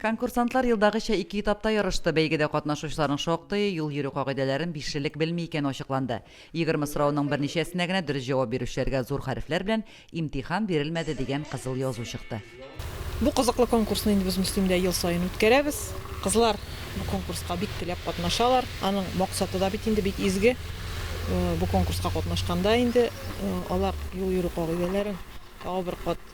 Конкурсантлар елдагыча ике этапта ярышты, бәйгедә катнашучыларның шактые юл йөрү кагыйдәләрен бишелек белми икәне ачыкланды. Егерме сорауның берничәсенә генә дөрес җавап бирүчеләргә зур хәрефләр белән Имтихан бирелмәде дигән кызыл язу чыкты. Бу кызыклы конкурсны инде без Мөслимдә ел саен үткәрәбез. Кызлар бу конкурска бик теләп катнашалар. Аның максаты да бит инде бик изге. Бу конкурска катнашканда инде алар юл йөрү кагыйдәләрен тагы бер кат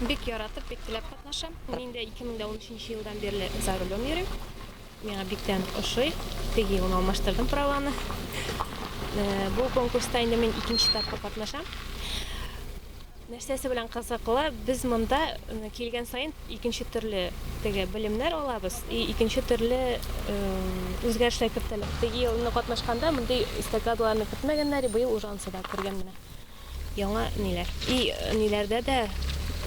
Бик яратып, бик теләп катнашам. Мин инде 2013 елдан бирле за рулем йөрим. Миңа биктән ошый. Теге елны алмаштырдым праваны. Э, бу конкурста инде мин икенче тапкыр катнашам. Нәрсәсе белән кызыклы, без монда э, килгән саен икенче төрле теге белемнәр алабыз и икенче төрле э, үзгәрешләр кертәләр. Теге елны катнашканда мондый эстакадаларны кертмәгәннәр, быел уже ансыда күргән менә. Яңа ниләр. И ниләрдә дә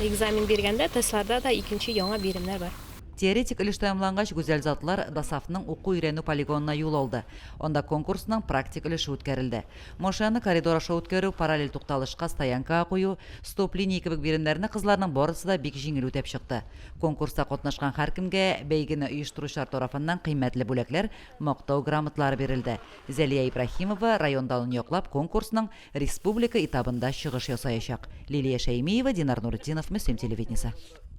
экзамен биргәндә, тестларда да икенче яңа биремнәр бар. Теоретик өлеш тәмамлангач, Гүзәл затлар ДОСАФның уку-өйрәнү полигонына юл алды. Анда конкурсның практик өлеше үткәрелде. Машинаны коридор аша үткәрү, параллель тукталышка стоянкага кую, стоп-линия кебек биремнәрне кызларның барысы да бик җиңел үтәп чыкты. Конкурста катнашкан һәркемгә бәйгене оештыручылар тарафыннан кыйммәтле бүләкләр, Мактау грамоталары бирелде. Зәлия Ибраһимова район данын яклап конкурсның Республика этабында чыгыш ясаячак Лилия Шәймиева, Динар Нуретдинов, Мөслим телевидениесе.